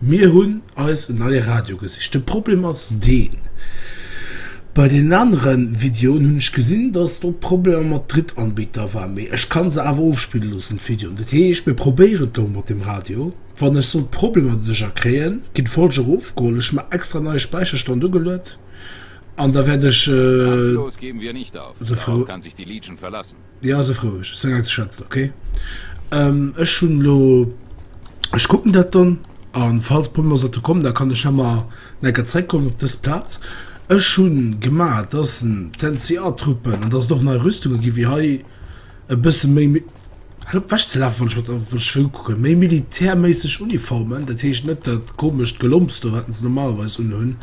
Mir hunn eis en neie Radio gesicht. De Problem ass deen, bei deenen anere Videoen hunn ech gesinn, datt do Problemer mat Drittanbieter war. Mee ech ka se awer ofspille loossen, d'Videoen. Dat heescht, mir probéieren et elo mat dem Radio. Wann ech sollt Problemer doduercher kréien, geet d'Folg och ofgeholl. Ech hu mer extra en neie Späicherstand ugeluet an da wäert ech se verloossen. Jo sëff roueg, ech seng eng ze schwätzen ok. Ech hunn elo, ech kucken dat dann an falls Problem ass datt e kommen da kann ech emmer nach enker zréck kommen op dës Plaz. Ech hunn gemaach dass en d'NCA Truppen an dass et och nei Rüstunge ginn wéi hei e bësse méi mi, hal op wech ze lafen wann ech mat wann ech wëll kucken, méi militärméisseg Uniformen, dat heescht net dat komescht Gelomps do wat se normalerweis unhunn.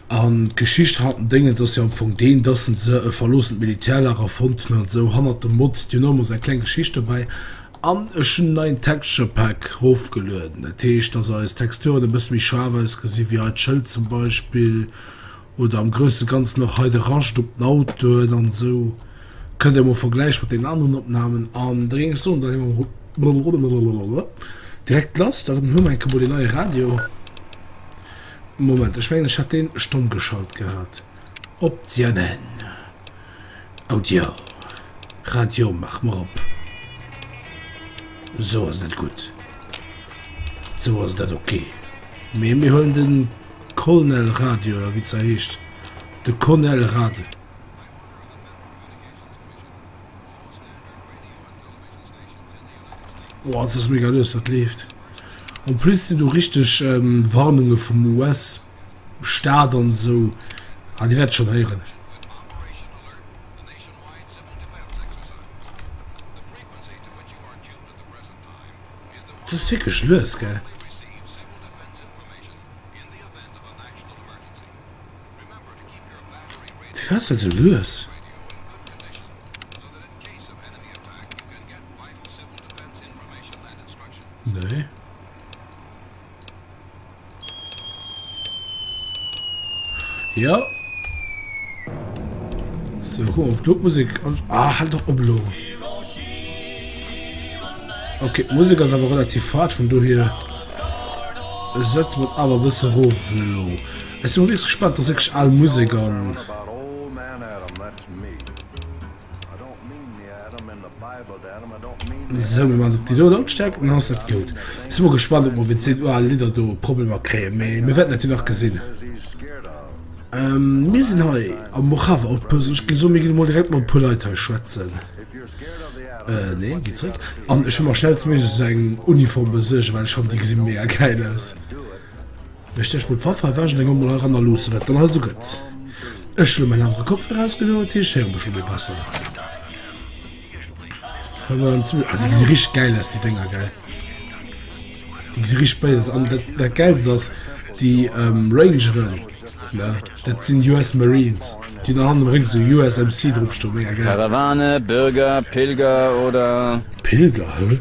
An d'Geschicht hanner den Déngens ass jo am Fong deen, dass en se e verloossent Militärlager fonnt hunn, an esou hanner dem Mott, Dir hunn och emol esou eng kleng Geschicht dobäi. An ech hunn en neien Texture Pack rofgelueden, dat heescht, dass eis Texturen e bësse méi schaarf ausgesinn, wéi hei d'Schëld zum Beispill, oder am grousse Ganzen och hei de Rascht op den Autoen an esou. Kënnt Der emol vergläiche mat deenen aneren Opnahmen, an da géing ech soen, da ginn mer direkt lass. Da hu mer enke mol deen neie Radio. Moment, ech mengen ech hat deen stomm geschalt gehat. Optionnellen, Audio, Radio mach mer op. Sou ass net gutt. Sou ass dat ok. Mee mir huelen den Colnel Radio oder wéi se heescht. De Conel Rad. Oh, dat ass mega lues, dat leeft. En plus sinn do richteg ähm, Warnunge vum US-Staat an esou. Ah, Dir wäert et schonn héieren. Dat ass wierklech lues, gell? Firwat ass dat esou lues? Nee. Ja. So, guck mal, du Musik. Ah, halt doch Oblo. Okay, die Musik ist aber relativ fad, von du hier. Ich setze mich aber ein bisschen ruf. Ich bin wirklich gespannt, dass ich alle Musik an. Sou mir man op déi do Lautstärk an ass dat goud. Sin mol gespannt op mer mit seen oal Lidder do Problemer kréien mee mir wärten dat jo nach gesin. Mir sin hei am Mojave Outpost an ech gin soen mir gin mol direkt mat e puer Leit hei schwätzen. Nee gin zréck an ech will mer schnellstméiglech sou eng Uniform besuergen well ech fannen déi gesin mega geil aus. Ech dächt mir d'Waffe awer ech leng emol hei ranner loosse wat dann hei sou gëtt. Ech elo mäin anere Kopfhörer ausgedoen dat heescht ech héiere mech elo méi besser. Ah déi gesi richteg gäil aus déi Dénger gell. Déi gesi richteg béis aus an dat dat gäilst ass déi Rangeren ne dat sinn US Marines déi hunn hannen am Réck sou USMC dropstoen, mega gäil. Karawane, Bürger, Pilger oder? Pilger, hä?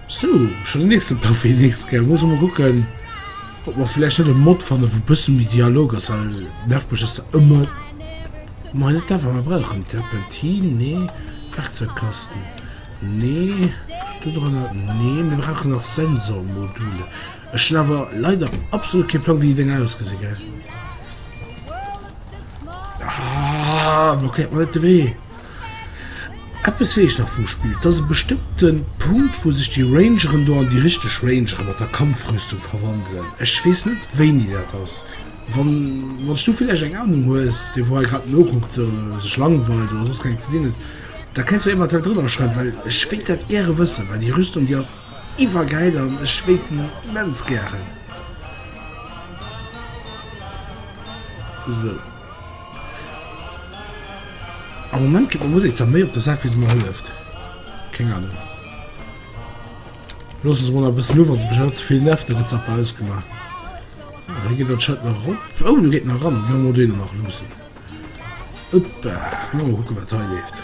Sou, schon den nächsten Plan fir déi nächst Kéier. Mir mussen mol kucken, ob mer vläicht net e Mod fannen, wou e bëssen méi Dialog ass, well nervpeg ass dat ëmmer. Mei net dat wat mer brauchen. Terpentin? Nee. Werkzeugkasten? Nee. Do dranner? Nee. Mir brauchen nach Sensormodule. Ech hunn awer leider absolut kee Plang, wéi déi Dénger ausgesi gell. Ah, blockéiert mer net de Wee! Eppes weess ech nach vum Spill, et ass e bestëmmte Punkt wou sech déi Rangeren do an déi richteg Rangere mat der Kampfrüstung verwandelen. Ech weess net wéini dat ass. Wann wann s du villäicht eng Anung hues, dee wou hei grad nokuckt, sech langweilt oder soss keng Ideen huet, da kenns du eventuell drënner schreiwen, well ech wéilt dat gäre wëssen, well déi Rüstung déi ass iwwergäil an ech wéilt déi immens gären. Sou. Am Moment kritt meng Musek zwar méi op de Sak, wéi se mer hëlleft. Keng Anung. Loosse se mol nach e bëssen u, wann se mech elo ze vill nervt, da gëtt se einfach ausgemaach. Ah, hei geet dat Schild nach erop. Oh, do geet en nach eran. Jo, mol deen nach loossen. Uppa, lo mol kucke wat hei leeft.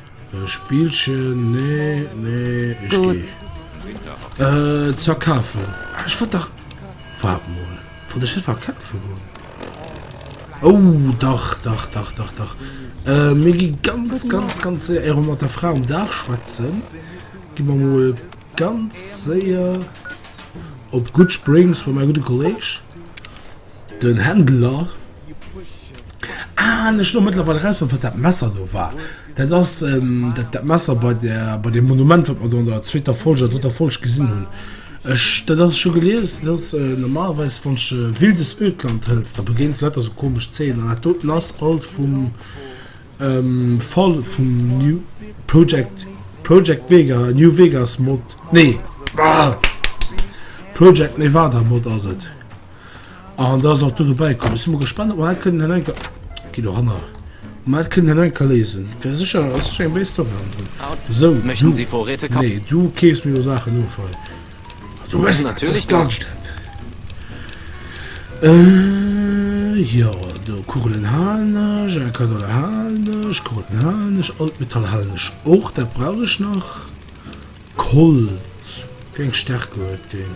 Spillchen nee nee ech geh et verkafen ech wat dach wat mol von der verkafe go oh dach dach dach dach dach mir gi ganz ganz ganz se er mat der frau um dach schwatzen gi man mol ganz séier op gut springs bei mein gute kolleg Den Händler, Aah, ech lo mëttlerweil eraus hunn, wat dat Messer do war. Dat ass dat Messer bei der, bei deem Monument, wat mer do an der zweeter Folg oder drëtter Folg gesinn hunn. Ech, dat ass, ech hu gelies, dat ass normalerweis, wann s de wildes Ödland hëls, da begéins de lauter sou komesch Zeeën. An dat doten ass alt vum Fall vum New Project, Project Vega, New Vegas Mod, nee, ah! Project Nevada Mod ass et. An da ass och do dobäi komm. Si mer gespannt, ob mer dat kënnen hei enker. Gi do hanner. Ob mer dat kënnen hei enker léisen. Wär sécher, ass sécher eng béis Story hannendrun. So, Möchten Sie Vorräte kaufen? Nee, du keefs mir jo Saachen of hei. Ah, du hues dat, das ganz dat. Äh, jo, do Kugelen halen ech, äh, Kanonen halen ech, Kugelen halen ech, Altmetall halen ech och, dat brauch ech nach. Kolt, wéi eng Stärke huet deen?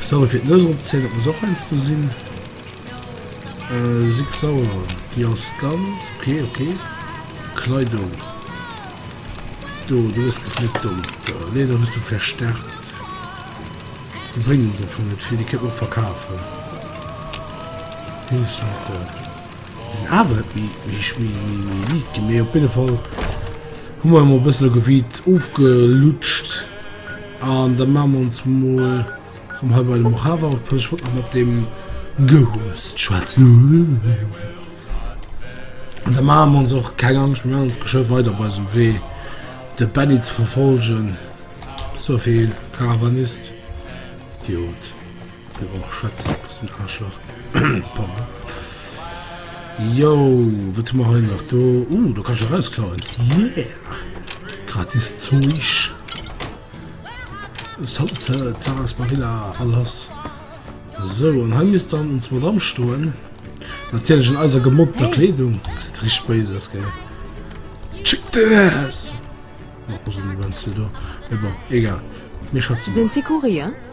Sorry fir d'Nues eropzéien, dat muss och heiansdo sinn. Äh, six sauer, déi ass ganz okay, okay. Kleidung. Do, du bist geflickt dumm. Lederrüstung verstärkt. Die bringen uns davon nicht viel, die können wir auch verkaufen. Hilfsmittel. Das sind aber nicht wie, wie, wie, wie, wie Lied gemäht. Auf jeden Fall haben wir mal ein bisschen Gebiet aufgelutscht. An da maache mer ons mol rëm hei bei de Mojave op. Ech wollt nach mat deem Ghost schwätzen. An da maache mer ons och keng Angscht, mir maachen ons geschwë weider op eisem Wee, de Benny ze verfolgen. Sophie, Karawanist? Jut. Déi Woch schwätze mer iwwert den Aarschlach. Pardon. Jo, wat hu mer hei nach do? Uh, do kann ech erausklauen. Yeah! Gratis Zeugs. Salze, Sarasparilla, alles. So, an hei misst dann uns Madame stoen. Natierlech in eiser gemoppter Kleedung. Das sieht richtig böse aus, gell? Check this! Mach mal so, wie wenn's du do... Egal, mir schätzen mal. Sind Sie Kurier?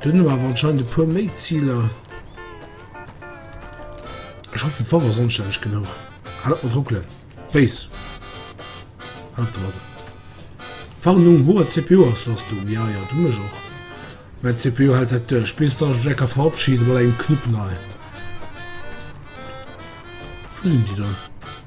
Do hunn mer awer anscheinend e puer méi Ziler. Ech hoffen d'Wa war sonstänneg genuch. Hal op mat ruckelen. Béis. Hal op domat. Warnung, hoher CPU-Auslastung. Ja, ja, du mech och. Mäi CPU hält dat duerch, bis datt ech mech enker verabschiden, mat engem Knupp nei. Wou sinn déi do?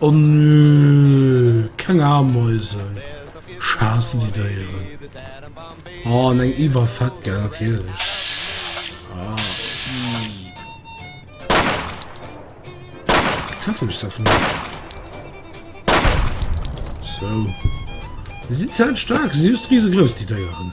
O nö, keng Ameisen, schaassen déi Déieren. Oh, an eng iwwerfett, gell, natierlech. Ah, ii. Treffen ech se einfach net. So. Déi sinn zäit staark, si si just riesegrouss, déi Déieren.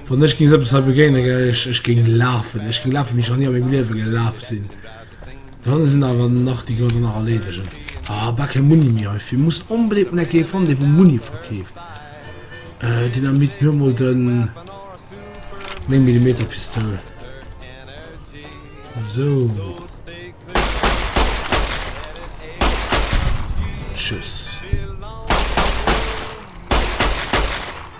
Wann ech géing sou eppes hei begéinen, gell, ech, ech géing lafen. Ech géing lafen, wéi ech nach ni a mengem Liewe gelaf sinn. D'Hënn sinn awer nach, déi kënnen der nach erleedegen. Ah, a bal kee Munni méi heifir. Muss onbedéngt mol enk ee fannen, dee wou Munni verkeeft. Euh, Dynamit, mir hu mol de Néng-Millimeter-Pistoul. Sou. Tschüss.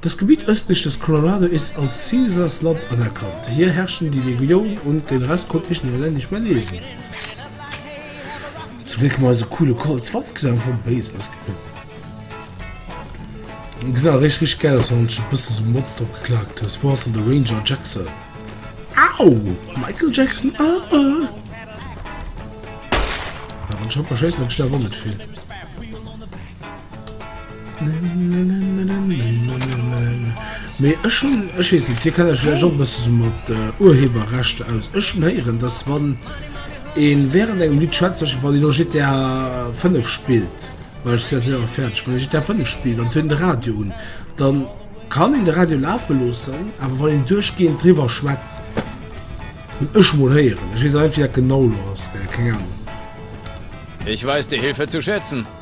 Das Gebiet östlich des Colorado ist als Caesars Land anerkannt. Hier herrschten die Legion und den Rest konnte ich leider nicht mehr lesen. Zum Glück mal so coole Colts Waff gesehen vom Base aus gekommen. Gesehen auch richtig, richtig geil aus, wenn du ein bisschen so Mods drauf geklagt hast. Wo hast du den Ranger Jackson? Au! Michael Jackson, ah, ah. Ja, wenn ich hab, scheiße, dann schnell wundert viel. Mee ech hunn, ech weess net, dir kennt iech vläicht och e bësse sou mat Urheberrechter aus. Ech hunn héieren, datt wann ee wärend engem Lidd schwätzt, zum Beispill wann een elo GTA 5 spillt, well ech si jo séier fäerdeg, wann ee GTA 5 spillt an et huet een de Radio un, dann kann een de Radio lafe loossen, awer wann een duerchgehend driwwer schwätzt, hunn ech mol héieren, ech weess awer net wéi dat genau elo ass, well keng Ahnung.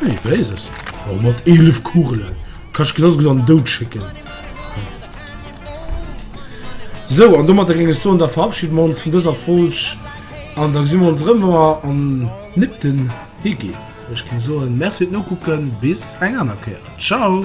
Hey, Blazes. Oh, mat 11 Kugelen. Kann ich genauso gut an den Dout schicken. So, an damit ging es so, und da verabschieden wir uns von dieser Folge. Und dann sehen wir uns rum, wenn wir an Nipten hingehen. Ich kann sagen, merci fürs Gucken, bis ein anderer Kehr. Ciao!